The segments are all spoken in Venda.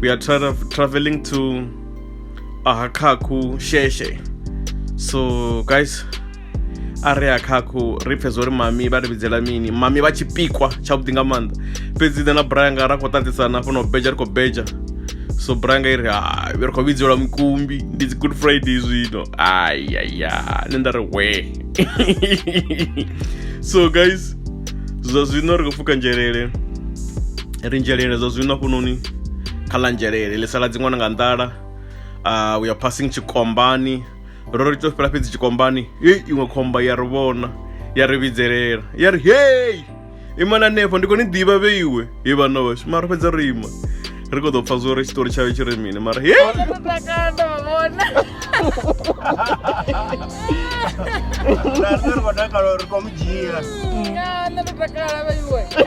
we are tra traveling to Ahakaku Sheshe. So guys, are Ahakaku ri pfhe zwori mami vha ri vhidzela mini mami vha tshipikwa tshavhuḓi nga maanḓa fhedzi nṋe na branga ra khou ṱaṱisana fhano beja ri khou beja so branga i ri hai ri khou vhidzelwa mukumbi ndi dzi good friday zwino ayaya nṋe nda ri we so guys zwa zwino ri khou pfuka nzhelele ri nzhelele zwa zwino hafhunoni kha ḽa nzhelele ḽi sala dziṅwana nga nḓala uh, we are passing tshikombani ro ri to fhela fhedzi tshikombani hei iṅwe khomba ya ri vhona ya ri vhidzelela ya ri hei imana hanefho ndi khou ni ḓivha vhe iwe he vhana vhashu mara fhedza ro ima ri khou ḓo pfa zwo ri tshiṱori tshayo tshi ri mini mara hei ri khou mu dzhia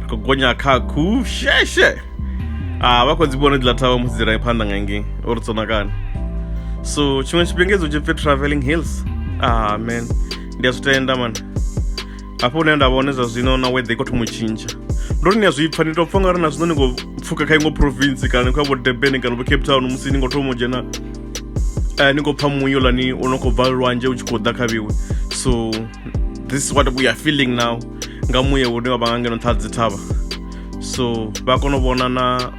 ri khou gonya kha khu sheshe a vha khou dzi vhona dziḽa thavha musi dzi rai phanḓa nga ngei o ri tsonakani so tshiṅwe tshifhinga idzo tshi pfi traveling hills ah man ndi a zwi tenda man hafho hune nda vhone zwa zwino na weather i khou thoma u tshintsha ndo ri ni a zwi pfha ni tou pfha nga ri na zwino ni khou pfuka kha iṅwe province kana kha vho durban kana vho cape town musi ni khou thoma u dzhena eh, ni khou pfha muyo lani u no khou bva lwanzhe u tshi khou ḓa kha vhiwe so this is what we are feeling now nga muya une wa vha nga ngeno nṱha ha dzithavha so vha kona u vhona na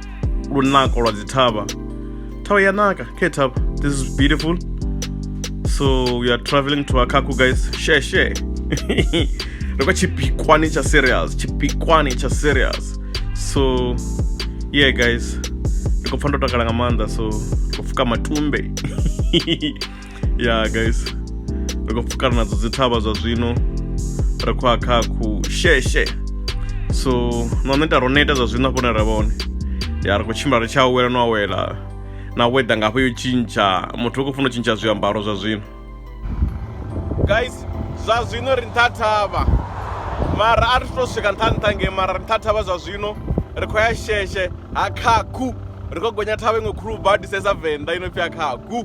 lunako lwa dzithavha thavha ya naka khe thavha this is beautiful so we are traveling to akaku guys share share ri kwa tshipikwani tsha serious tshipikwani tsha serious so yeah guys ndi khou pfa ndo takala nga maanḓa so ri khou pfuka matumbe ya guys ri khou pfukana nadzo dzi thavha zwa zwino ri khou ya kha ku sheshe so no ṋe ita ro neta zwa zwino afho ne ra vhone ya ri khou tshimbila ri tshi awela no awela na weather ngafho yo tshintsha muthu u khou funa u tshintsha zwiambaro zwa zwino guys zwa zwino ri nṱha thavha mara a ri to swika nṱha nṱha ngei mara ri nṱha thavha zwa zwino ri khou ya sheshe ha khakhu ri khou gonya thavha iṅwe khulu badisesa venḓa ino pfi ya khakhu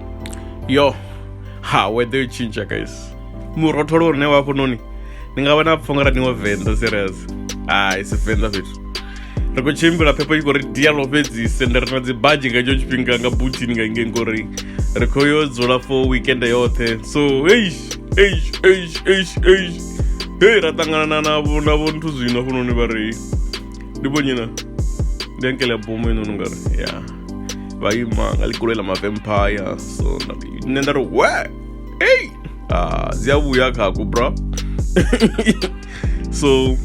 yo ha weather yo tshintsha guys murotholo une wa hafhanoni ni nga vha na pfho nga ra niwo venḓa serious hai si venḓa fhethu ri khou tshimbila phepho i khou ri dialo fhedzi sende ri na dzi badzhi nga itsho tshifhinga nga butini nga inge ngori ri khou yo dzula for weekend yoṱhe so eish eish eish eish eish hei ra ṱanganana navho na vho nthu zwino hafhanoni vha ri ndi vhonyina ndi ankele ya bomo inoni nga ri ya yeah. vha ima nga ḽikoloi ḽa mavampire so nṋe nda ri we ei ah, dzi a vhuya khakho bro so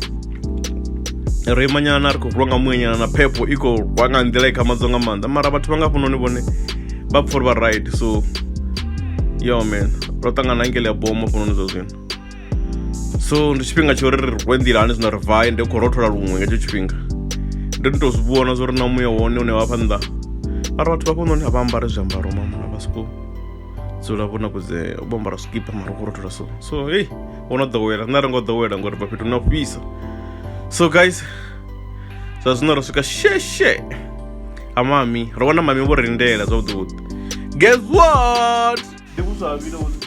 ro imanyana ri khou rwa nga muyenyana na phepho i khou rwa nga nḓila i khamadzo nga maanḓa mara vhathu vha nga hafhanoni vhone vha pfha uri vha right so yo man ro ṱangana ngele ya bomo hafhanoni zwa zwino so ndi tshifhinga tsho ri ri rwe nḓila hani zwino ri vaye ndi khou rothola luṅwe nga hetsho tshifhinga ndo ndi tou zwi vhona zwo ri na muya wone une wa fha nnḓa mara vhathu vha fhanoni a vha ambare zwiambaro mamona vha soko dzula vho nakudze vho ambara zwikipa mara khou rothola so so hei wo no ḓowela nṋe a ri ngo ḓowela ngori vha fhethu na fhisa so guys zwa zwino ro swika sheshe ha mami ro vhona mami vho rindela zwavhuḓi vhuḓi guess what ndi vhuswa vhile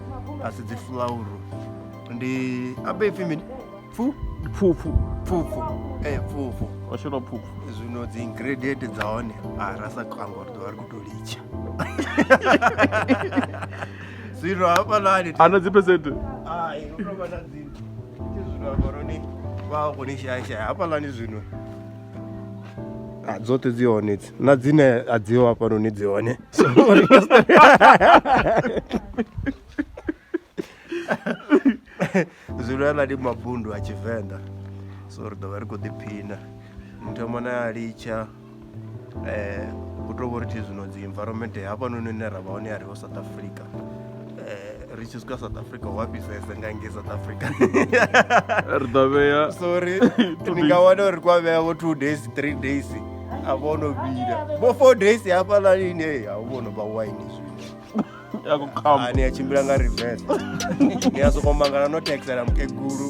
a si dzi fulauru ndi abe ipfi mini pfu pfupfu pfupfu ee eh, pfupfu wa shela pfupfu zwino dzi ingredient dza hone a ah, ra sa khanga uri ḓovha ri khou tou litsha zwino hafhalani ana dzi percent hai u tou vha na dzi zwino hafhaloni vha khou ni shayashaya hafhalani zwino ah, dzoṱhe dzi hone dzi na dzine a dzi ho hafhanoni dzi hone so ri nga si zwino aḽa ndi mabundu a tshivenḓa so ri ḓo vha ri khou ḓiphina muthu amo na a litsha um u tou vho ri thi zwino dzi environment hafhanoni hune ra vha hone ya ri ho south africa Eh, ri tshi swika south africa wa fhisese nga ngei south africa ri ḓo vhea sorry ni nga wana uri kwa vhea vho two days three days a vho no vhila vho four days hafhaḽa lini e a vho no vha wine zwino ni a tshimbila nga reverse ni a sokou mangala no taxela mukegulu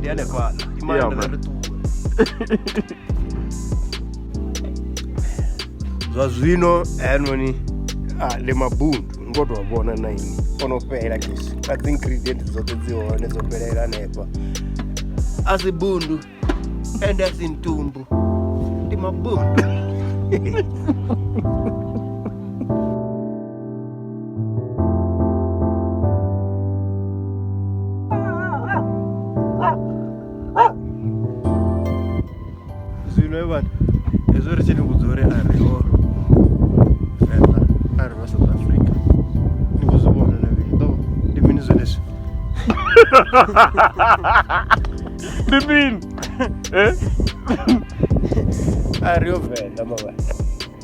Diane kwa imana Yeah, man. ndarutuwe zwa zwino anoni ah, le mabundu ngo to vhona na ini ono fhela kisi a dzi ingredient dzoṱhe dzi hone dzo fhelela hanefha a si bundu ende a si ntumbu ndi mabundu zwino he vhana hezwo ri tshi ni vhudza uri a ri ho venḓa a ri vha south africa ni khou zwi vhona na vhili ḓo ndi mini zwenezwi ndi mini a ri yo venḓa mavhana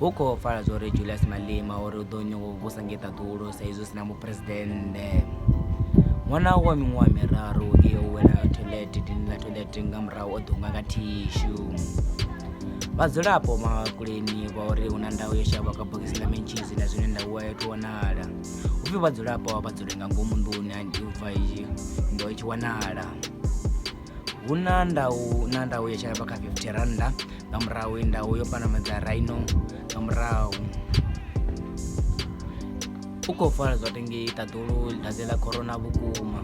hu khou pfala zwa uri Julias Malema o ri u ḓo nyaga u vhusa ngei ṱaḓulu sa izwi hu si na muphuresidennde. Ṅwana wa miṅwaha miraru u tea u wela thoiḽethe dini ḽa thoiḽethe nga murahu o ḓunga nga thishu. Vhadzulapo Makuleni vha uri hu na ndau yo shavha kha bogisi ḽa mentshisi na zwine ndau a yo thu wanala. Hu pfi vhadzulapo vha dzule nga ngomu nḓuni u bva ndo i tshi wanala. hu na ndau na ndau ya tshalaba kha fifty rannda nga murahu ndau yo panamedza raino nga murahu u khou fara zwa tengei ṱaḓulu ḽidadze ḽa corona vhukuma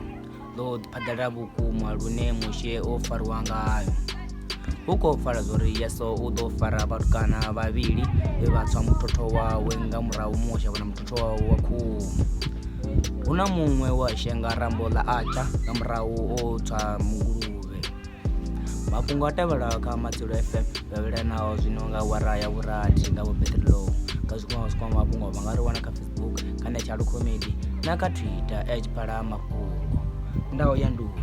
ḽo phaḓalala vhukuma lune mushe o fariwa ngayo hu khou fara zwori yeso u ḓo fara vhatukana vhavhili vhe vha tswa muthotho wawe nga murahu mushe vhona wa wa khuhu hu na muṅwe wa shenga rambo ḽa atsha nga murahu o tswa munguluvhe mafhungo a tevhelaho kha matshilo ff vhavhelanaho zwi no nga wara ya vhurathi nga vhopetrilou nga zwikwama zwikwama mafhungo vha nga ri wana kha facebook kana tshalu comedy na kha twitter edge phala mafhungo ndaho ya nduni